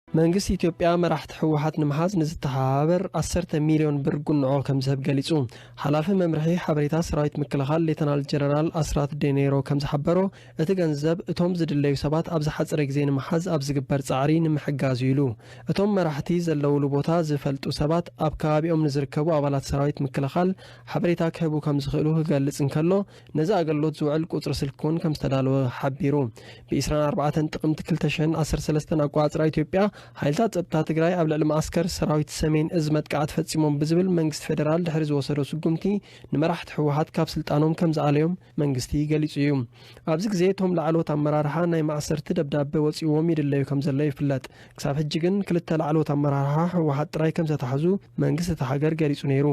መንግስቲ ኢትዮጵያ መራሕቲ ህወሓት ንምሓዝ ንዝተሓባበር 10 ሚልዮን ብር ጉንዖ ከም ዝህብ ገሊጹ። ሓላፊ መምርሒ ሓበሬታ ሰራዊት ምክልኻል ሌተናል ጀነራል ኣስራት ዴኔሮ ከም ዝሓበሮ፣ እቲ ገንዘብ እቶም ዝድለዩ ሰባት ኣብ ዝሓፀረ ግዜ ንምሓዝ ኣብ ዝግበር ፃዕሪ ንምሕጋዝ እዩ ኢሉ። እቶም መራሕቲ ዘለውሉ ቦታ ዝፈልጡ ሰባት ኣብ ከባቢኦም ንዝርከቡ ኣባላት ሰራዊት ምክልኻል ሓበሬታ ክህቡ ከምዝኽእሉ ክገልፅ እንከሎ ነዚ ኣገልሎት ዝውዕል ቁፅሪ ስልኪ እውን ከምዝተዳለወ ሓቢሩ። ብ ዕስራን ኣርባዕተን ጥቅምቲ ክልተ ሽሕን ዓሰርተ ሰለስተን ኣቆፃፅራ ኢትዮጵያ ሓይልታት ፀጥታ ትግራይ ኣብ ልዕሊ መዓስከር ሰራዊት ሰሜን እዝ መጥቃዕቲ ፈፂሞም ብዝብል መንግስቲ ፌደራል ድሕሪ ዝወሰዶ ስጉምቲ ንመራሕቲ ህወሓት ካብ ስልጣኖም ከምዝኣለዮም መንግስቲ ገሊጹ እዩ። ኣብዚ ግዜ እቶም ላዕለዎት ኣመራርሓ ናይ ማእሰርቲ ደብዳበ ወጺኡዎም ይድለዩ ከምዘለዉ ይፍለጥ። ክሳብ ሕጂ ግን ክልተ ላዕለዎት ኣመራርሓ ህወሓት ጥራይ ከምዘተሓዙ መንግስቲ እታ ሃገር ገሊጹ ነይሩ።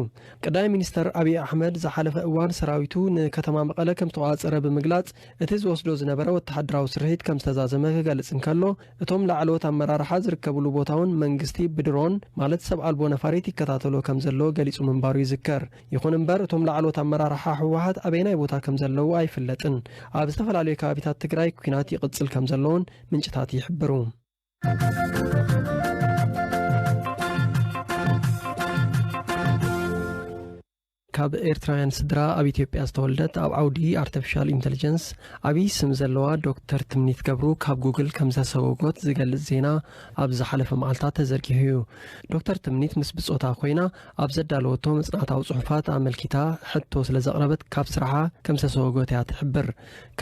ቀዳማይ ሚኒስተር ኣብዪ ኣሕመድ ዝሓለፈ እዋን ሰራዊቱ ንከተማ መቐለ ከምዝተቖጻጸረ ብምግላጽ እቲ ዝወስዶ ዝነበረ ወተሃደራዊ ስርሒት ከምዝተዛዘመ ክገልጽ እንከሎ እቶም ላዕለዎት ኣመራርሓ ዝርከብሉ ቦታ'ውን መንግስቲ ብድሮን ማለት ሰብ ኣልቦ ነፋሪት ይከታተሎ ከምዘሎ ገሊጹ ምንባሩ ይዝከር። ይኹን እምበር እቶም ላዕሎት ኣመራርሓ ህወሓት ኣበየናይ ቦታ ከም ዘለዉ ኣይፍለጥን። ኣብ ዝተፈላለዩ ከባቢታት ትግራይ ኲናት ይቕፅል ከም ዘሎ'ውን ምንጭታት ይሕብሩ። ካብ ኤርትራውያን ስድራ ኣብ ኢትዮጵያ ዝተወልደት ኣብ ዓውዲ ኣርተፊሻል ኢንተልጀንስ ዓብዪ ስም ዘለዋ ዶክተር ትምኒት ገብሩ ካብ ጉግል ከም ዝተሰጎጎት ዝገልጽ ዜና ኣብ ዝሓለፈ መዓልታት ተዘርጊሑ እዩ። ዶክተር ትምኒት ምስ ብጾታ ኮይና ኣብ ዘዳለወቶ መጽናዕታዊ ጽሑፋት ኣመልኪታ ሕቶ ስለ ዘቕረበት ካብ ስራሓ ከም ዝተሰወጎት እያ ትሕብር።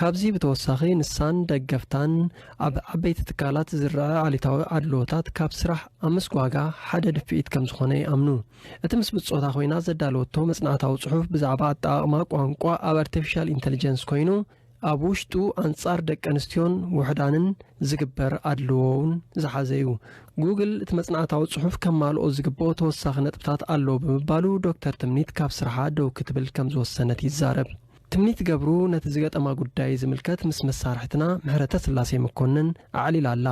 ካብዚ ብተወሳኺ ንሳን ደገፍታን ኣብ ዓበይቲ ትካላት ዝረኣ ኣሉታዊ ኣድልዎታት ካብ ስራሕ ኣብ ምስጓጋ ሓደ ድፍኢት ከም ዝኾነ ይኣምኑ። እቲ ምስ ብጾታ ኮይና ዘዳለወቶ መጽናዕታዊ ጽሑፍ ብዛዕባ ኣጠቓቕማ ቋንቋ ኣብ ኣርቲፊሻል ኢንተልጀንስ ኮይኑ ኣብ ውሽጡ ኣንጻር ደቀንስትዮን ውሑዳንን ዝግበር ኣድልዎ'ውን ዝሓዘ'ዩ። ጉግል እቲ መጽናዕታዊ ጽሑፍ ከማልኦ ዝግብኦ ተወሳኺ ነጥብታት ኣሎ ብምባሉ ዶክተር ትምኒት ካብ ስርሓ ደው ክትብል ከም ዝወሰነት ይዛረብ። ትምኒት ገብሩ ነቲ ዝገጠማ ጉዳይ ዝምልከት ምስ መሳርሕትና ምሕረተስላሴ መኮንን ኣዕሊላ ኣላ።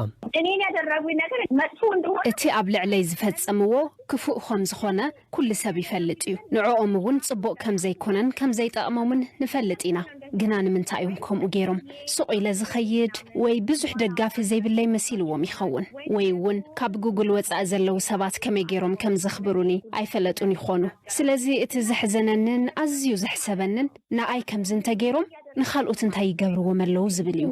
እቲ ኣብ ልዕለይ ዝፈጸምዎ ክፉእ ከም ዝኾነ ኩሉ ሰብ ይፈልጥ እዩ ንዕኦም እውን ጽቡቅ ከም ዘይኮነን ከም ዘይጠቅሞምን ንፈልጥ ኢና ግና ንምንታይ እዮም ከምኡ ገይሮም ሱቅ ኢለ ዝከይድ ወይ ብዙሕ ደጋፊ ዘይብለይ መሲልዎም ይከውን ወይ እውን ካብ ጉግል ወጻኢ ዘለዉ ሰባት ከመይ ገይሮም ከም ዘክብሩኒ ኣይፈለጡን ይኮኑ ስለዚ እቲ ዘሕዘነንን ኣዝዩ ዘሕሰበንን ንኣይ ከምዚ እንተ ገይሮም ንካልኦት እንታይ ይገብርዎም ኣለዉ ዝብል እዩ።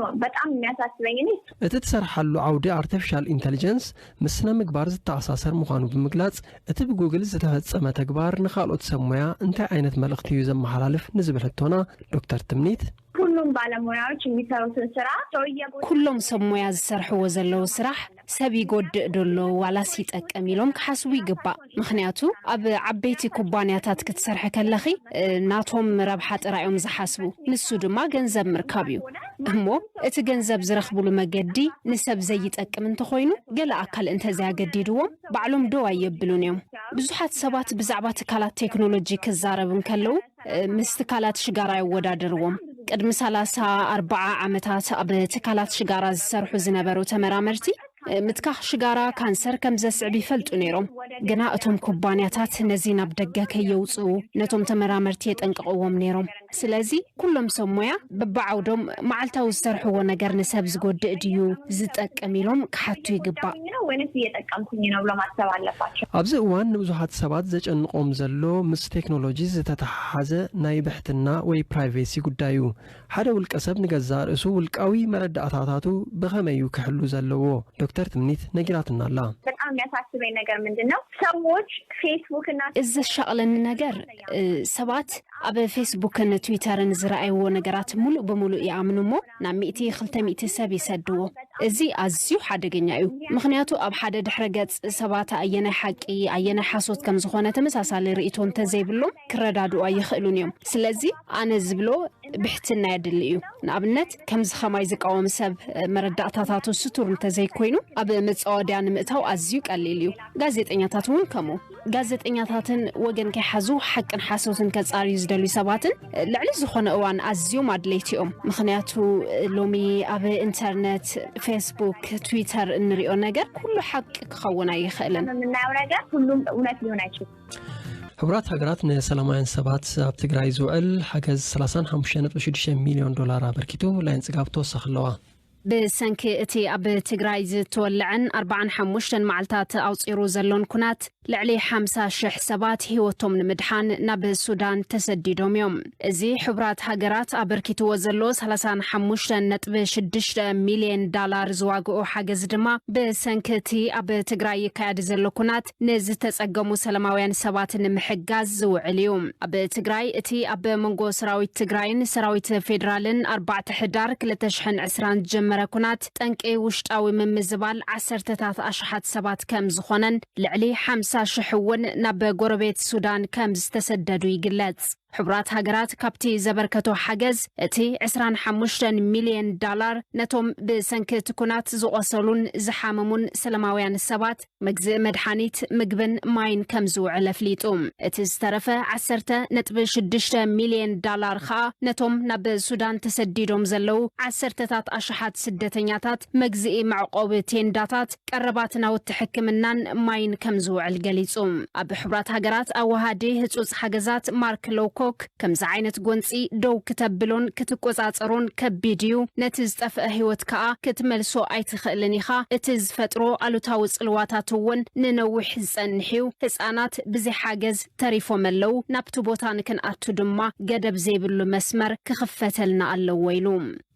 እቲ ትሰርሓሉ ዓውዲ ኣርተፊሻል ኢንተሊጀንስ ምስ ስነ ምግባር ዝተኣሳሰር ምዃኑ ብምግላጽ፣ እቲ ብጉግል ዝተፈጸመ ተግባር ንኻልኦት ሰብ ሞያ እንታይ ዓይነት መልእኽቲ እዩ ዘመሓላልፍ ንዝብል ሕቶና ዶክተር ትምኒት፣ ኩሉም ባለሞያዎች የሚሰሩትን ስራ ሰው እየጎዳ ኩሎም ሰብ ሞያ ዝሰርሕዎ ዘለዉ ስራሕ ሰብ ይጎድእ ዶ ኣሎ ዋላስ ይጠቅም ኢሎም ክሓስቡ ይግባእ። ምኽንያቱ ኣብ ዓበይቲ ኩባንያታት ክትሰርሒ ከለኺ ናቶም ረብሓ ጥራይ እዮም ዝሓስቡ፣ ንሱ ድማ ገንዘብ ምርካብ እዩ። እሞ እቲ ገንዘብ ዝረኽብሉ መገዲ ንሰብ ዘይጠቅም እንተኾይኑ ገለ ኣካል እንተዘይኣገዲድዎም ባዕሎም ደው ኣየብሉን እዮም። ብዙሓት ሰባት ብዛዕባ ትካላት ቴክኖሎጂ ክዛረቡ እንከለዉ ምስ ትካላት ሽጋራ የወዳድርዎም። ቅድሚ ሰላሳ ኣርባዓ ዓመታት ኣብ ትካላት ሽጋራ ዝሰርሑ ዝነበሩ ተመራመርቲ ምትካኽ ሽጋራ ካንሰር ከም ዘስዕብ ይፈልጡ ነይሮም። ግና እቶም ኩባንያታት ነዚ ናብ ደገ ከየውፅኡ ነቶም ተመራመርቲ የጠንቅቕዎም ነይሮም። ስለዚ ኩሎም ሰብ ሞያ በብዓውዶም መዓልታዊ ዝሰርሕዎ ነገር ንሰብ ዝጎድእ ድዩ ዝጠቅም ኢሎም ክሓቱ ይግባእ። ነው ወይንስ እየጠቀምኩኝ ነው ብሎ ማሰብ ኣለባቸው። ኣብዚ እዋን ንብዙሓት ሰባት ዘጨንቆም ዘሎ ምስ ቴክኖሎጂ ዝተተሓሓዘ ናይ ብሕትና ወይ ፕራይቬሲ ጉዳይ እዩ። ሓደ ውልቀሰብ ንገዛእ ርእሱ ውልቃዊ መረዳእታታቱ ብኸመይ እዩ ክሕሉ ዘለዎ? ዶክተር ትምኒት ነጊራትና ኣላ። በጣም የሚያሳስበኝ ነገር ምንድን ነው ሰዎች ፌስቡክ እና። እዚ ዘሻቕለኒ ነገር ሰባት ኣብ ፌስቡክን ትዊተርን ዝረኣይዎ ነገራት ምሉእ ብምሉእ ይኣምኑ እሞ ናብ ሚእቲ ክልተ ሚእቲ ሰብ ይሰድዎ። እዚ ኣዝዩ ሓደገኛ እዩ፣ ምኽንያቱ ኣብ ሓደ ድሕረ ገጽ ሰባት ኣየናይ ሓቂ ኣየናይ ሓሶት ከም ዝኾነ ተመሳሳሊ ርእይቶ እንተ ዘይብሎም ክረዳድኡ ኣይኽእሉን እዮም። ስለዚ ኣነ ዝብሎ ብሕትና የድሊ እዩ። ንኣብነት ከምዚ ከማይ ዝቃወም ሰብ መረዳእታታቱ ስቱር እንተ ዘይኮይኑ ኣብ መጻወድያ ንምእታው ኣዝዩ ቀሊል እዩ። ጋዜጠኛታት እውን ከምኡ። ጋዜጠኛታትን ወገን ከይሓዙ ሓቅን ሓሶትን ከጻርዩ ዝደልዩ ሰባትን ልዕሊ ዝኾነ እዋን ኣዝዮም ኣድለይቲ እዮም። ምኽንያቱ ሎሚ ኣብ ኢንተርነት፣ ፌስቡክ፣ ትዊተር እንሪኦ ነገር ኩሉ ሓቂ ክኸውን ኣይኽእልን። የምናየው ነገር ሁሉም እውነት ሊሆን አይችልም። ሕቡራት ሃገራት ንሰላማውያን ሰባት ኣብ ትግራይ ዝውዕል ሓገዝ 35.6 ሚልዮን ዶላር ኣበርኪቱ ላይን ጽጋብ ተወሳኺ ኣለዋ። ብሰንኪ እቲ ኣብ ትግራይ ዝተወለዐን ኣርባዓን ሓሙሽተን መዓልታት ኣቑፂሩ ዘሎን ኩናት ልዕሊ ሓምሳ ሽሕ ሰባት ህይወቶም ንምድሓን ናብ ሱዳን ተሰዲዶም እዮም። እዚ ሕቡራት ሃገራት ኣበርኪትዎ ዘሎ ሰላሳን ሓሙሽተን ነጥቢ ሽዱሽተ ሚልየን ዳላር ዝዋግኡ ሓገዝ ድማ ብሰንኪ እቲ ኣብ ትግራይ ይካየድ ዘሎ ኩናት ንዝተፀገሙ ሰላማውያን ሰባት ንምሕጋዝ ዝውዕል እዩ። ኣብ ትግራይ እቲ ኣብ መንጎ ሰራዊት ትግራይን ሰራዊት ፌዴራልን ኣርባዕተ ሕዳር ክልተ ሽሕን ዕስራን ዝጀመረ ኩናት ጠንቂ ውሽጣዊ ምምዝባል ዓሰርተታት ኣሽሓት ሰባት ከም ዝኾነን ልዕሊ ሓምሳ ሽሕ እውን ናብ ጎረቤት ሱዳን ከም ዝተሰደዱ ይግለፅ። ሕቡራት ሃገራት ካብቲ ዘበርከቶ ሓገዝ እቲ ዕስራን ሓሙሽተን ሚልየን ዳላር ነቶም ብሰንኪ እቲ ኩናት ዝቖሰሉን ዝሓመሙን ሰለማውያን ሰባት መግዝኢ መድሓኒት፣ ምግብን ማይን ከም ዝውዕል ኣፍሊጡ። እቲ ዝተረፈ ዓሰርተ ነጥቢ ሽዱሽተ ሚልየን ዳላር ከኣ ነቶም ናብ ሱዳን ተሰዲዶም ዘለዉ ዓሰርተታት ኣሽሓት ስደተኛታት መግዝኢ መዕቖቢ ቴንዳታት፣ ቀረባት ናውቲ ሕክምናን ማይን ከም ዝውዕል ገሊጹ። ኣብ ሕቡራት ሃገራት ኣወሃዲ ህጹጽ ሓገዛት ማርክ ሎውኮክ ከምዚ ዓይነት ጎንጺ ደው ክተብሎን ክትቆጻጸሮን ከቢድ እዩ፣ ነቲ ዝጠፍአ ህይወት ከኣ ክትመልሶ ኣይትኽእልን ኢኻ፣ እቲ ዝፈጥሮ ኣሉታዊ ጽልዋታት እውን ንነዊሕ ዝጸንሕ እዩ፣ ህጻናት ብዘይ ሓገዝ ተሪፎም ኣለዉ፣ ናብቲ ቦታ ንክንኣቱ ድማ ገደብ ዘይብሉ መስመር ክኽፈተልና ኣለዎ ኢሉ።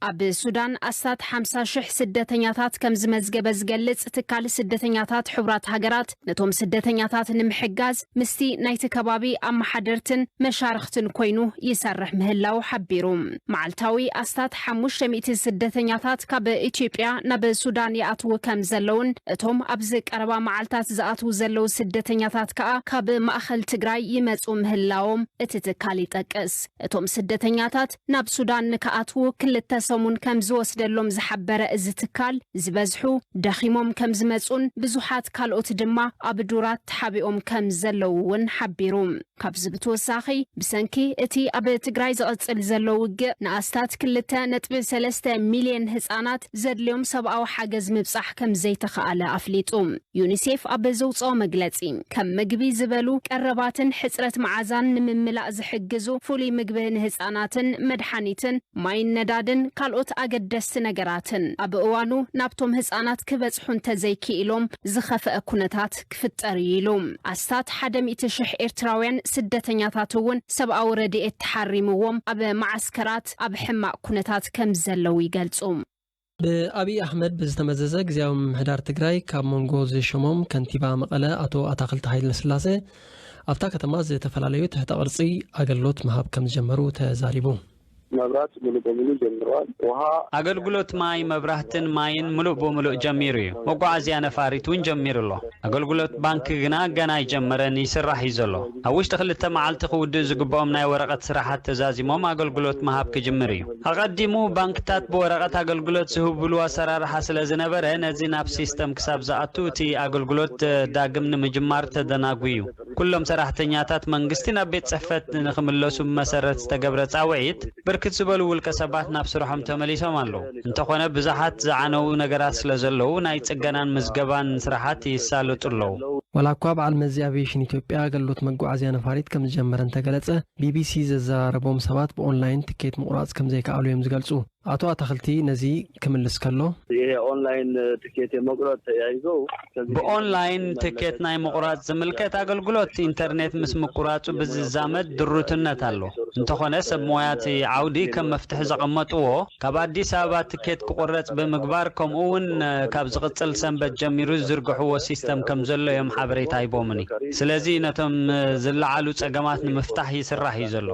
ኣብ ሱዳን ኣስታት ሓምሳ ሽሕ ስደተኛታት ከም ዝመዝገበ ዝገልጽ ትካል ስደተኛታት ሕቡራት ሃገራት፣ ነቶም ስደተኛታት ንምሕጋዝ ምስቲ ናይቲ ከባቢ ኣመሓደርትን መሻርኽትን ኮይኑ ይሰርሕ ምህላዉ ሓቢሩ። መዓልታዊ ኣስታት ሓሙሽተ ሚእቲ ስደተኛታት ካብ ኢትዮጵያ ናብ ሱዳን ይኣትዉ ከም ዘለዉን እቶም ኣብዚ ቀረባ መዓልታት ዝኣትዉ ዘለዉ ስደተኛታት ከኣ ካብ ማእከል ትግራይ ይመጽኡ ምህላዎም እቲ ትካል ይጠቅስ። እቶም ስደተኛታት ናብ ሱዳን ንክኣትዉ ክልተ ሰሙን ከም ዝወስደሎም ዝሓበረ እዚ ትካል፣ ዝበዝሑ ደኺሞም ከም ዝመጽኡን ብዙሓት ካልኦት ድማ ኣብ ዱራት ተሓቢኦም ከም ዘለዉ'ውን ሓቢሩ። ካብዚ ብትወሳኺ፣ ብሰንኪ እቲ ኣብ ትግራይ ዝቕጽል ዘሎ ውግእ፣ ንኣስታት ክልተ ነጥቢ ሰለስተ ሚልየን ህጻናት ዘድልዮም ሰብኣዊ ሓገዝ ምብጻሕ ከም ዘይተኽኣለ ኣፍሊጡ። ዩኒሴፍ ኣብ ዘውጽኦ መግለጺ፣ ከም ምግቢ ዝበሉ ቀረባትን ሕጽረት መዓዛን ንምምላእ ዝሕግዙ ፍሉይ ምግቢ ንህጻናትን መድሓኒትን፣ ማይን ነዳድን ካልኦት ኣገደስቲ ነገራትን ኣብ እዋኑ ናብቶም ህጻናት ክበጽሑ እንተዘይክኢሎም ዝኸፈኣ ኩነታት ክፍጠር እዩ ኢሉ። ኣስታት ሓደ ሚእቲ ሽሕ ኤርትራውያን ስደተኛታት እውን ሰብኣዊ ረድኤት ተሓሪምዎም ኣብ መዓስከራት ኣብ ሕማቕ ኩነታት ከምዘለዉ ይገልጹ። ብኣብዪ ኣሕመድ ብዝተመዘዘ ግዝያዊ ምምሕዳር ትግራይ ካብ መንጎ ዝሸሞም ከንቲባ መቐለ ኣቶ ኣታኽልቲ ሃይለስላሰ ኣብታ ከተማ ዝተፈላለዩ ትሕተ ቅርፂ ኣገልግሎት ምሃብ ከምዝጀመሩ ተዛሪቡ። መብራት ሙሉእ በሙሉእ ጀምረዋል። ውሃ። ኣገልግሎት ማይ፣ መብራህትን ማይን ምሉእ ብምሉእ ጀሚሩ እዩ። መጓዓዝያ ነፋሪት እውን ጀሚሩ ኣሎ። ኣገልግሎት ባንኪ ግና ገና ኣይጀመረን፣ ይስራሕ እዩ ዘሎ። ኣብ ውሽጢ ክልተ መዓልቲ ክውድኡ ዝግበኦም ናይ ወረቐት ስራሓት ተዛዚሞም ኣገልግሎት ምሃብ ክጅምር እዩ። ኣቐዲሙ ባንክታት ብወረቐት ኣገልግሎት ዝህብሉ ኣሰራርሓ ስለ ዝነበረ፣ ነዚ ናብ ሲስተም ክሳብ ዝኣቱ እቲ ኣገልግሎት ዳግም ንምጅማር ተደናጉዩ። ኩሎም ሰራሕተኛታት መንግስቲ ናብ ቤት ጽሕፈት ንክምለሱ ብመሰረት ዝተገብረ ጻውዒት፣ ብርክት ዝበሉ ውልቀ ሰባት ናብ ስርሖም ተመሊሶም ኣለዉ። እንተኾነ ብዙሓት ዝዓነዉ ነገራት ስለ ዘለዉ፣ ናይ ጽገናን ምዝገባን ስራሓት ይሳለጡ ኣለዉ። ዋላ'ኳ በዓል መዚ ኣቪየሽን ኢትዮጵያ ኣገልግሎት መጓዓዝያ ነፋሪት ከም ዝጀመረ እንተገለጸ፣ ቢቢሲ ዘዘራረቦም ሰባት ብኦንላይን ትኬት ምቑራጽ ከም ዘይከኣሉ እዮም ዝገልጹ። ኣቶ ኣታኽልቲ ነዚ ክምልስ ከሎ። ብኦንላይን ትኬት ናይ ምቑራጽ ዝምልከት ኣገልግሎት ኢንተርኔት ምስ ምቁራጹ ብዝዛመድ ድሩትነት ኣሎ። እንተኾነ ሰብ ሞያ እቲ ዓውዲ ከም መፍትሒ ዘቐመጥዎ። ካብ ኣዲስ ኣበባ ትኬት ክቑረፅ ብምግባር ከምኡ እውን ካብ ዝቕፅል ሰንበት ጀሚሩ ዝዝርግሕዎ ሲስተም ከምዘሎ እዮም ሓበሬታ ሂቦምኒ። ስለዚ ነቶም ዝለዓሉ ፀገማት ንምፍታሕ ይስራሕ እዩ ዘሎ።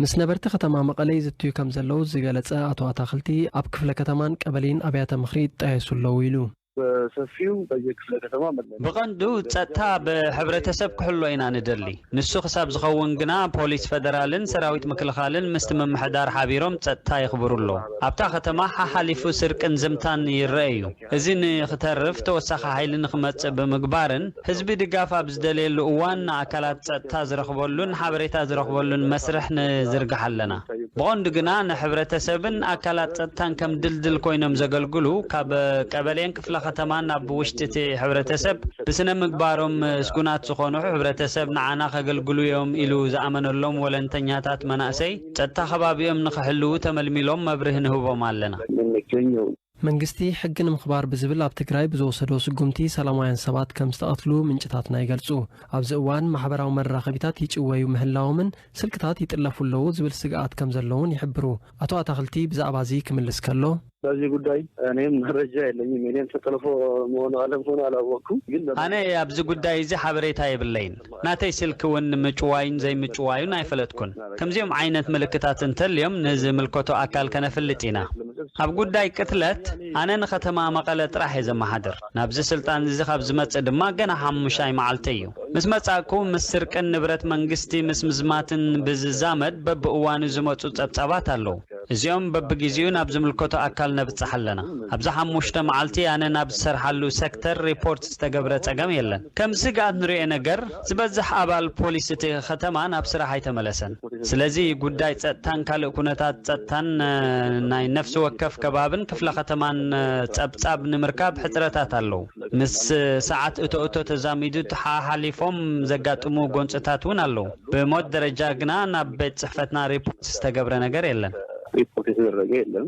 ምስ ነበርቲ ከተማ መቐለ ይዝትዩ ከምዘለዉ ዝገለፀ ኣቶ ኣታኽልቲ፣ ኣብ ክፍለ ከተማን ቀበሌን ኣብያተ ምኽሪ ይጣየሱ ኣለዉ ኢሉ። በሰፊው በየክፍለ ከተማ መለለይ ብቐንዱ ጸጥታ ብሕብረተሰብ ክሕሎ ኢና ንደሊ። ንሱ ክሳብ ዝኸውን ግና ፖሊስ ፈደራልን ሰራዊት ምክልኻልን ምስቲ ምምሕዳር ሓቢሮም ጸጥታ የኽብሩ ኣለዉ። ኣብታ ከተማ ሓሓሊፉ ስርቅን ዝምታን ይረኣ'ዩ። እዚ ንክተርፍ ተወሳኺ ሓይሊ ንክመጽእ ብምግባርን፣ ህዝቢ ድጋፍ ኣብ ዝደለየሉ እዋን ንኣካላት ፀጥታ ዝረኽበሉን ሓበሬታ ዝረኽበሉን መስርሕ ንዝርግሕ ኣለና። ብቐንዱ ግና ንሕብረተሰብን ኣካላት ፀጥታን ከም ድልድል ኮይኖም ዘገልግሉ ካብ ቀበሌን ክፍለ ከተማን ኣብ ውሽጢ እቲ ሕብረተሰብ ብስነምግባሮም ስጉናት ዝኾኑ ሕብረተሰብ ንዓና ከገልግሉ እዮም ኢሉ ዝኣመነሎም ወለንተኛታት መናእሰይ ፀጥታ ከባቢኦም ንክሕልዉ ተመልሚሎም መብርሂ ንህቦም ኣለና። መንግስቲ ሕጊ ንምኽባር ብዝብል ኣብ ትግራይ ብዝወሰዶ ስጉምቲ ሰላማውያን ሰባት ከም ዝተቐትሉ ምንጭታትና ይገልፁ። ኣብዚ እዋን ማሕበራዊ መራኸቢታት ይጭወዩ ምህላዎምን ስልክታት ይጥለፉ ኣለዉ ዝብል ስግኣት ከም ዘሎ እውን ይሕብሩ። ኣቶ ኣታኽልቲ ብዛዕባ እዚ ክምልስ ከሎ። በዚ ጉዳይ ኣነ መረጃ የለኝም። የኔም ተጠልፎ መሆኑ ኣለመሆኑ ኣላወቅኩም። ግን። ኣነ ኣብዚ ጉዳይ እዚ ሓበሬታ የብለይን። ናተይ ስልኪ ውን ምጭዋዩን ዘይምጭዋዩን ኣይፈለጥኩን። ከምዚኦም ዓይነት ምልክታት እንተልዮም ንዝምልከቶ ኣካል ከነፍልጥ ኢና። ኣብ ጉዳይ ቅትለት ኣነ ንከተማ መቐለ ጥራሕ እየ ዘመሓድር። ናብዚ ስልጣን እዚ ካብ ዝመጽእ ድማ ገና ሓሙሻይ መዓልተይ እዩ። ምስ መጻእኩ ምስ ስርቅን ንብረት መንግስቲ ምስ ምዝማትን ብዝዛመድ በብእዋኑ ዝመጹ ጸብጻባት ኣለዉ። እዚኦም በብጊዚኡ ናብ ዝምልከቶ ኣካል ነብጽሕ ኣለና። ኣብዚ ሓሙሽተ መዓልቲ ኣነ ናብ ዝሰርሓሉ ሰክተር ሪፖርት ዝተገብረ ጸገም የለን። ከም ስግኣት ንርእዮ ነገር ዝበዝሕ ኣባል ፖሊስ እቲ ከተማ ናብ ስራሕ ኣይተመለሰን። ስለዚ ጉዳይ ጸጥታን ካልእ ኩነታት ጸጥታን ናይ ነፍሲ ወከፍ ከባብን ክፍለ ከተማን ጸብጻብ ንምርካብ ሕጽረታት ኣለው። ምስ ሰዓት እቶ እቶ ተዛሚዱ ሓሓሊፎም ዘጋጥሙ ጎንጽታት እውን ኣለው። ብሞት ደረጃ ግና ናብ ቤት ጽሕፈትና ሪፖርት ዝተገብረ ነገር የለን። ሪፖርት የተደረገ የለን።